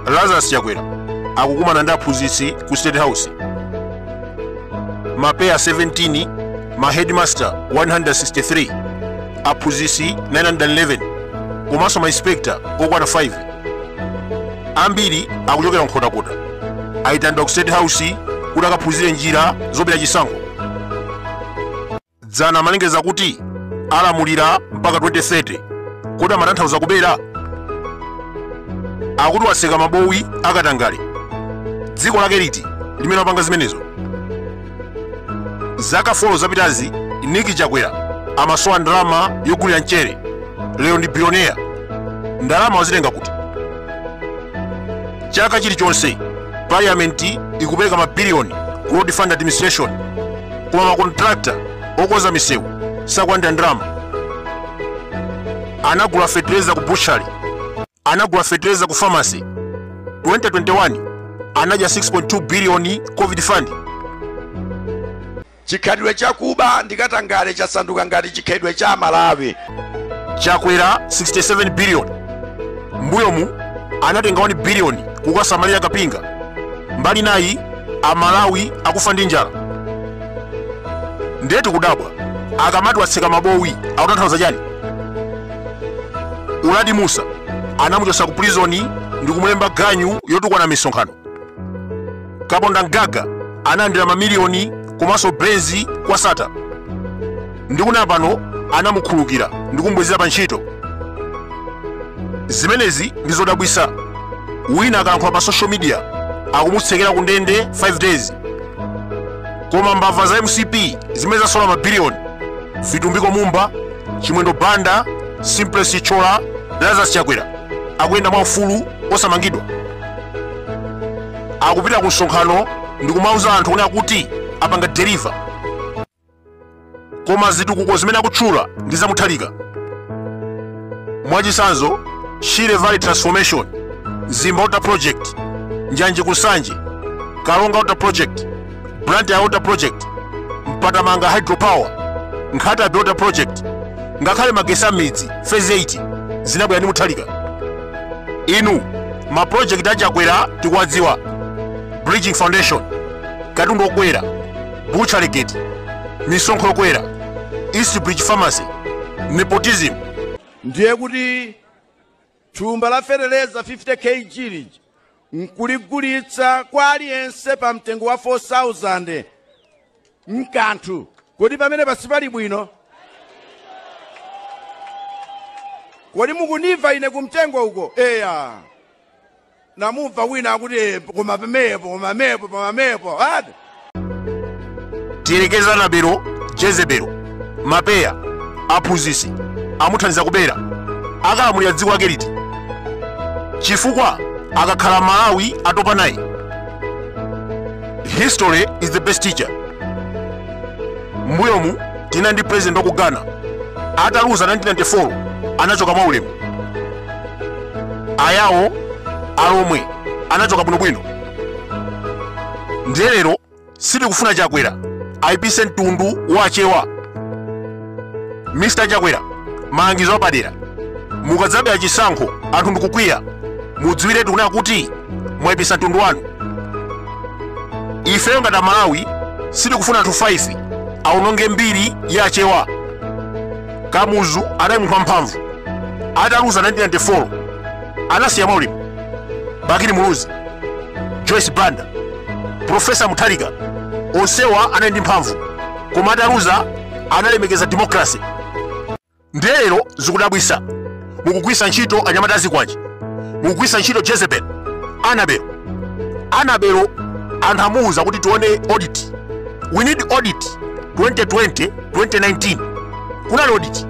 lazarus chakwera akukumana ndi aphunzitsi ku state house mapeya 17 ma headmaster 163 aphunzitsi 911 komanso ma inspector okwana 5 ambiri akuchokera nkhotakota ayitanidwa ku state house kuti akaphunzire njira zobera chisankho Dzana amalengeza kuti alamulira mpaka 2030. Kodi amatanthauza kubera? Akuti watseka mabowo akatangale. Dziko lake liti limene wapanga zimenezo? Zaka 4 zapitazi Nick Chakwera amasowa ndalama yogulira mchere. Lero ndi bilioneya. Ndalama wazitenga kuti? Chaka chilichonse parliament ikupereka mabiliyoni ku road fund administration koma makontrakta okonza misewu sakulandira ndalama anagula fetereza ku butchery anagula fetereza ku famasi 2021 anadya 6.2 biliyoni covid fund chikhalidwe chakuba ndikatangale chasanduka ngati chikhalidwe cha amalawi chakwera 67 biliyoni mbuyomu anatenga 1 biliyoni kukasamalira kapinga mbali nayi amalawi akufa ndi njala ndiye tikudabwa akamati watseka mabowo akutanthauza chani uladi musa anamuchotsa ku prizoni ndi kumulemba ganyu yotukwana mmisonkhano kapondamgaga analandira mamiliyoni komanso benzi kwa sattar ndi kuna pano anamukhulukira ndikumbwezera pa ntchito zimenezi ndi zodabwisa wina akalankhula pa social media akumutsekera ku ndende 5 days koma mbava za mcp zimene zasola mabiliyoni vitumbiko mumba chimwendo banda simplex chithyola lazarus chakwera akuyenda mwa ufulu osamangidwa akupita ku msonkhano ndi kumauza anthu kunena kuti apanga deliver koma zitukuko zimene akutchula ndi za mutharika mwachisanzo shire valley transformation mzimba water project njanje ku nsanje karonga water project blantyre water project mpatamanga hydropower nkhatabay water project ngakhale magesi a mmidzi phase 8 zinabwera ndi mutharika inu mapulojekiti a chakwera tikuwadziwa bridging foundation katundu wokwera butchery gate misonkho yokwera east bridge pharmacy nepotism ndiye kuti thumba la feteleza 50 kg lija nkuligulitsa kwa aliyense pa mtengo wa 4000 mkanthu kodi pamene pasipali bwino kodi mukundimva ine kumtengo uko eya ndamumva wina akuti "Eh, koma pemepo koma mepo koma mepo ati tiyerekeze Anabelo Jezebelo mapeya aphunzitsi amuthandiza kubera akalamulira dziko lake liti chifukwa akakhala aMalawi atopa naye history is the best teacher mbuyomu tinali ndi president wa Kamuzu Banda ataluza 1994 anachoka mwa ulemu ayawo alomwe anachoka bwinobwino ndiye lero sitikufuna chakwera aipise mtundu wa achewa mr chakwera malangizo apadera mukadzabera chisankho anthu ndikukwiya mudziwiretu kunena kuti mwaipisa mtundu wanu ifeyo ngati amalawi sitikufuna anthu 5 aononge mbiri ya achewa kamuzu anali munthu wamphamvu ataluza 1994 anasiya mwaulemu bakili muluzi joyce banda profesa mutharika onsewa anali ndi mphamvu koma ataluza analemekeza demokrasi ndiye lero zikudabwitsa mukugwisa ntchito anyamata azikwanje mukugwisa ntchito jezebel anabelo anabelo anthu amuuza kuti tione audit we need audit 2020 2019 kunali audit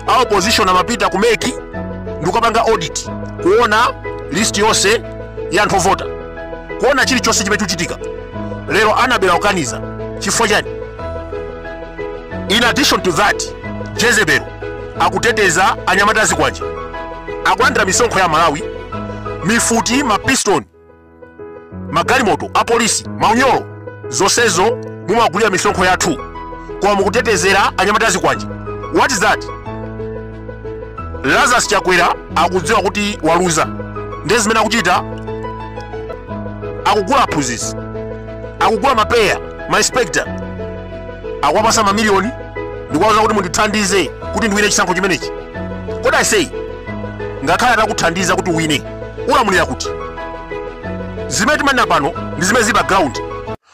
a opposition amapita ku MEC ndikukapanga audit kuona list yonse ya anthu ovota kuona chilichonse chimene chikuchitika lero anabelo akukaniza chifukwa chani in addition to that jezebel akuteteza anyamata azikwanje akulandira misonkho ya aMalawi mifuti mapistol magalimoto apolisi maunyolo zonsezo mumagulira misonkho yathu koma mukutetezera anyamata azikwanje what is that lazarus chakwera akudziwa kuti waluza ndiye zimene akuchita akugula aphunzitsi akugula mapeya mainspector akuwapasa mamiliyoni ndikuwauza kuti mundithandize kuti ndiwine chisankho chimenechi kodi I say ngakhale atakuthandiza kuti uwine ulamulira kuti zimene timanena pano ndi zimene zili pa ground